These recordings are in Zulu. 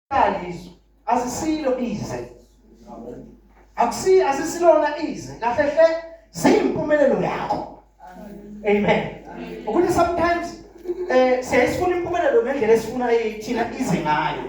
kalizwe azisilo ize akusi asisilona ize kahle hle ziyimpumelelo yakho amen ukuthi sometimes eh siyayifuna impumelelo ngendlela esifuna thina ize ngayo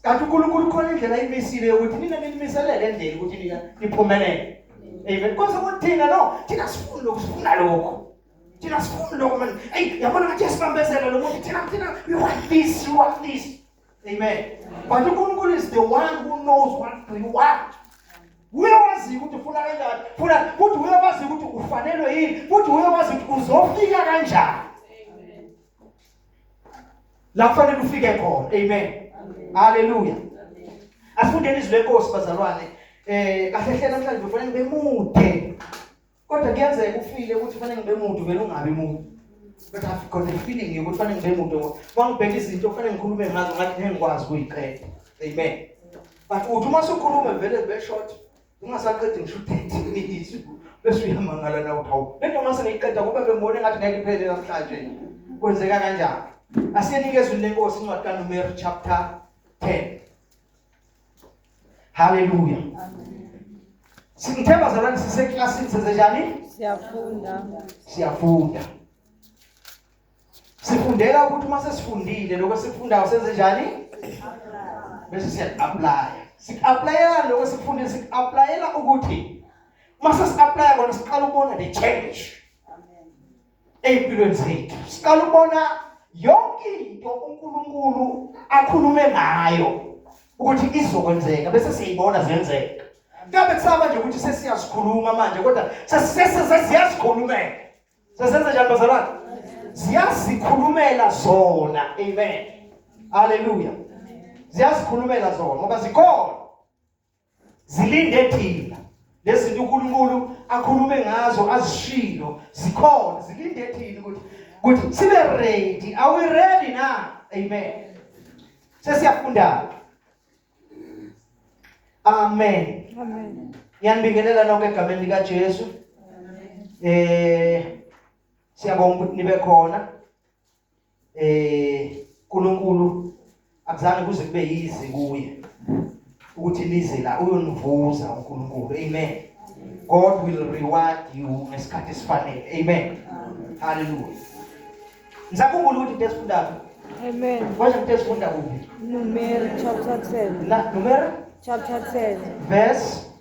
kanti uNkulunkulu khona indlela imisile ukuthi nina nilimiselele endleni ukuthi nina niphumelele amen konke kuthina no thina sifuna lokho sifuna lokho thina sifuna lokho man hey yabona ngathi yasibambezela lo muntu thina thina we want this we want this Amen. But uNkulunkulu is the one who knows what do you want. Uye wazi ukuthi ufuna kanjani. Funa futhi uye wazi ukuthi ufanelwe yini. Futhi uye wazi ukuthi uzofika kanjani. Amen. La kufanele ufike khona. Amen. Hallelujah. Asifundeni izwi lenkosi bazalwane. Eh kahle hle namhlanje kufanele bemude. Kodwa kuyenzeka ufile ukuthi fanele ngibe muntu vele ungabi muntu. But I've got a feeling yokuthi fanele ngibe muntu ngoba mangibheka izinto fanele ngikhulume ngazo ngathi ngeke ngikwazi ukuyiqeda. Amen. But uthi uma sukhuluma vele be short ungasaqedi ngisho 30 minutes bese uyamangala na uthi hawu lento uma sengiyiqeda kube bembone ngathi ngeke iphele namhlanje. Kwenzeka kanjani? Asiyenike izwi lenkosi incwadi kaNumeri chapter 10. Haleluya. Singithemba zalani siseklasini senze njani? Siyafunda. Siyafunda. Sifundela ukuthi uma sesifundile lokho sikufundayo senze njani? Bese siya apply. Sikuapplyela lokho sikufundile sikuapplyela ukuthi uma sesiapply kona siqala ukubona the change. ezimpilweni zethu siqala ubona yonke into uNkulunkulu akhulume ngayo ukuthi izokwenzeka bese siyibona zenzeka ngabe kusaba nje ukuthi sesiyazikhuluma manje kodwa sesiyazikhulumela sesenze njani bazalwane ziyazikhulumela zona amen haleluya ziyazikhulumela zona ngoba zikhona zilinde thina lezinto uNkulunkulu akhulume ngazo azishilo zikhona zilinde thina ukuthi ukuthi sibe ready are we ready na amen sesiyafunda amen amen ngiyanibingelela nonke egameni lika Jesu eh siyabonga ukuthi nibe khona eh uNkulunkulu akuzange kuze kube yizi kuye ukuthi lize la uyonivuza uNkulunkulu amen God will reward you ngesikhathi esifanele amen haleluya ngisakhumbula ukuthi into esifundayo amen kwaze into esifunda kuphi numeri chapter 10 la numeri chapter 10 verse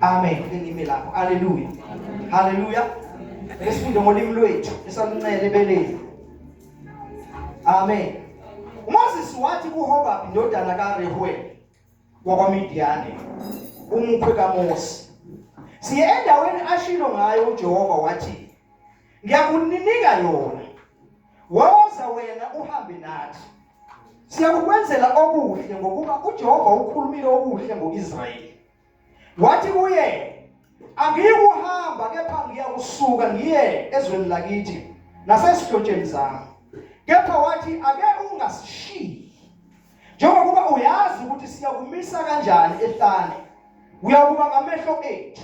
Amen. Ngime lapho. Haleluya. Haleluya. Esifunde ngolimi lwethu esaluncele ebeleni. Amen. Moses wathi kuHobab indodana kaRehuel wakwaMidiyane umkhwe kaMose. Siye endaweni ashilo ngayo uJehova wathi ngiyakuninika yona. Woza wena uhambe nathi. siyakukwenzela okuhle ngokuba uJehova ukhulumile okuhle ngoIsrayeli wathi kuye angiyikuhamba kepha ngiyakusuka ngiye ezweni lakithi nasesidlotsheni zami kepha wathi ake ungasishiyi njengokuba uyazi ukuthi siyakumisa kanjani ehlane uyakuba ngamehlo ethu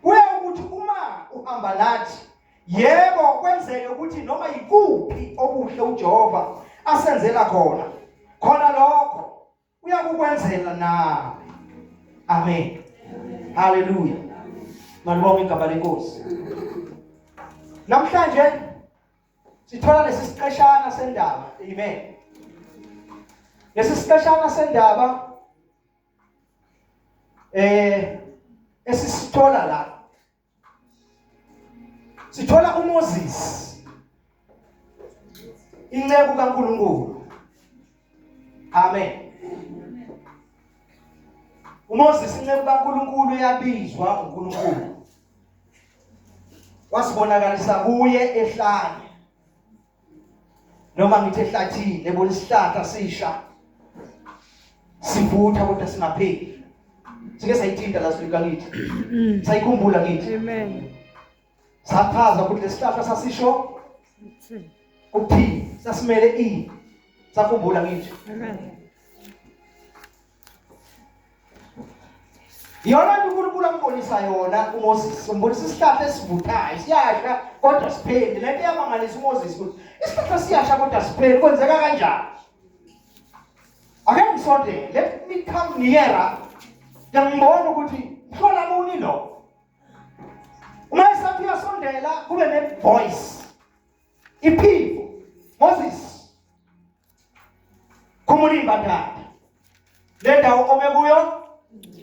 kuya ukuthi uma uhamba nathi Yebo kwenzeke ukuthi noma yikuphi okuhle uJehova asenzela khona khona lokho uyakukwenzela nawe. Amen. Hallelujah. Malibonga igama lenkosi. Namhlanje sithola lesi siqeshana sendaba. Amen. Lesi siqeshana sendaba eh esisithola la sithola uMoses inceku kaNkuluNkulu amen uMoses inceku kaNkuluNkulu yabizwa uNkuluNkulu wasibonakalisa kuye ehlane noma ngithi ehlathini ebona isihlahla sisha sivutha kodwa singapheli sike sayithinta la sifika kithi mm. sayikhumbula kithi amen sachaza ukuthi lesihlahla sasisho ukuthini sasimele ini sakhumbula kithi amen yona nto unkulunkulu ambonisa yona umoses umbonisa isihlahla esivuthayo siyasha kodwa sipheli le nto iyamangalisa umoses ukuthi isihlahla siyasha kodwa sipheli kwenzeka kanjani ake ngisondele let me come nearer ngiyambona ukuthi mhlola muni lo uma esathi uyasondela kube ne-voice iphiko moses khumula imbadada le ndawo ome kuyo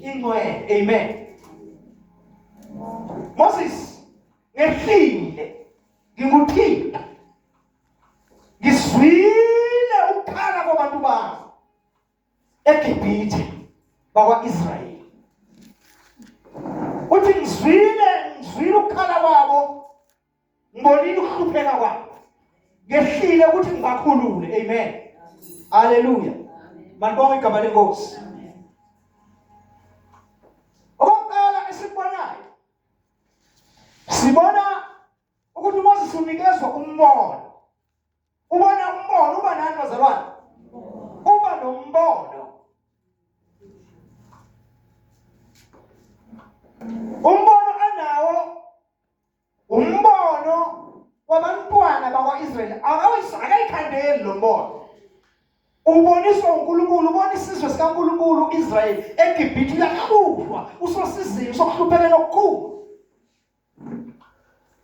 ingcwele amen Moses ngehlile ngikuthinta ngizwile ukukhala kwabantu bami eGibhithe bakwaIsrayeli uthi ngizwile ngizwile ukukhala kwabo ngibonile ukuhlupheka kwabo ngehlile ukuthi ngibakhulule amen haleluya malibonga igama lenkosi okokuqala esikubonayo sibona ukuthi uMoses unikezwa umbono ubona umbono uba nani bazalwane uba nombono umbono anawo umbono wabantwana bakwa-israyeli akayikhandeli lo mbono uboniswa unkulunkulu ubona isizwe sikankulunkulu u-israyeli egibhithe uyakabuzwa usosizini usokuhluphelela okukhulu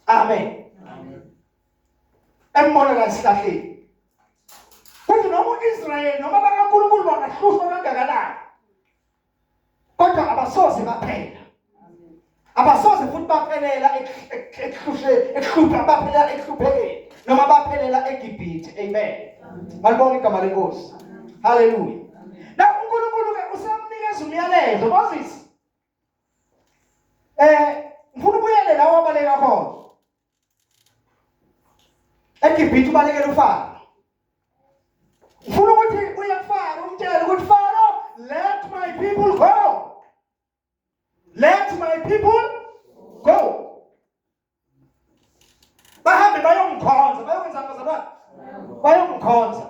amen embona la esihlahleni kuthi noma u-israyeli noma bakankulunkulu bangahlushwa kangakanani kodwa abasoze baphela abasoze futhi baphelela ekuhlushe ekuhlupha baphelela ekuhluphekeni noma baphelela eGibhithe amen balibona igama lenkosi haleluya la uNkulunkulu ke usamnikeza umyalezo Moses eh ngifuna ubuyele la wabaleka khona eGibhithe ubalekela uFaro ufuna ukuthi uye kuFaro umtshele ukuthi Faro let my people go let my people go bahambe bayomkhonza bayokwenza abazalwane bayomkhonza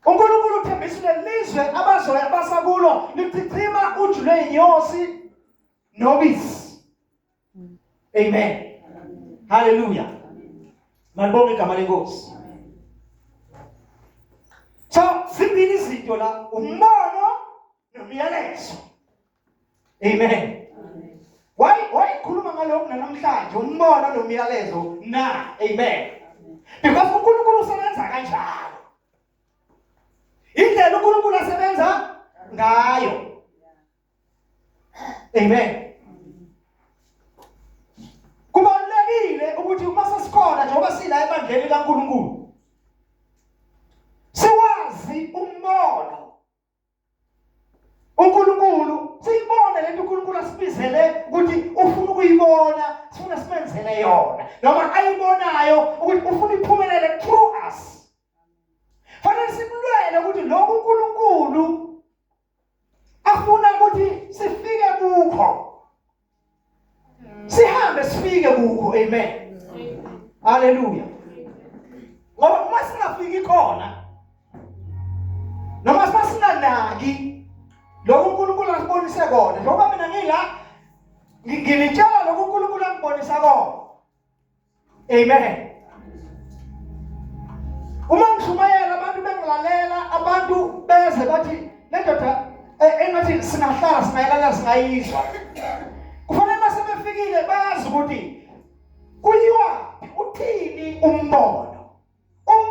unkulunkulu uthembisa lelizwe abazoya abasakulo lichichima ujulwe yinyosi nobisi amen haleluya malibonga igama lenkosi so zimbili izinto la umbono nomyalezo Amen. Wayi wayikhuluma ngalokho namhlanje umbono nomyalezo na. Amen. Because uNkulunkulu usebenza kanjalo. Indlela uNkulunkulu asebenza ngayo. Amen. Kubalulekile ukuthi uma sesikhona njengoba sila ebandleni kaNkulunkulu uNkulunkulu siyibone lento uNkulunkulu asibizele ukuthi ufuna ukuyibona sifuna simenzele yona noma ayibonayo ukuthi ufuna iphumelele through us fanele simlwele ukuthi lokhu uNkulunkulu afuna ukuthi sifike kukho sihambe sifike kukho amen haleluya ngoba uma singafiki khona noma sasinganaki lokhu uNkulunkulu asibonise kona njengoba mina ngila ngilitshela lokhu uNkulunkulu angibonisa kona Amen. Uma ngishumayela abantu bengilalela, abantu beze bathi le ndoda eh, engathi singahlala singayilala singayizwa. Kufanele mase befikile bazi ukuthi kuyiwa uthini umbono.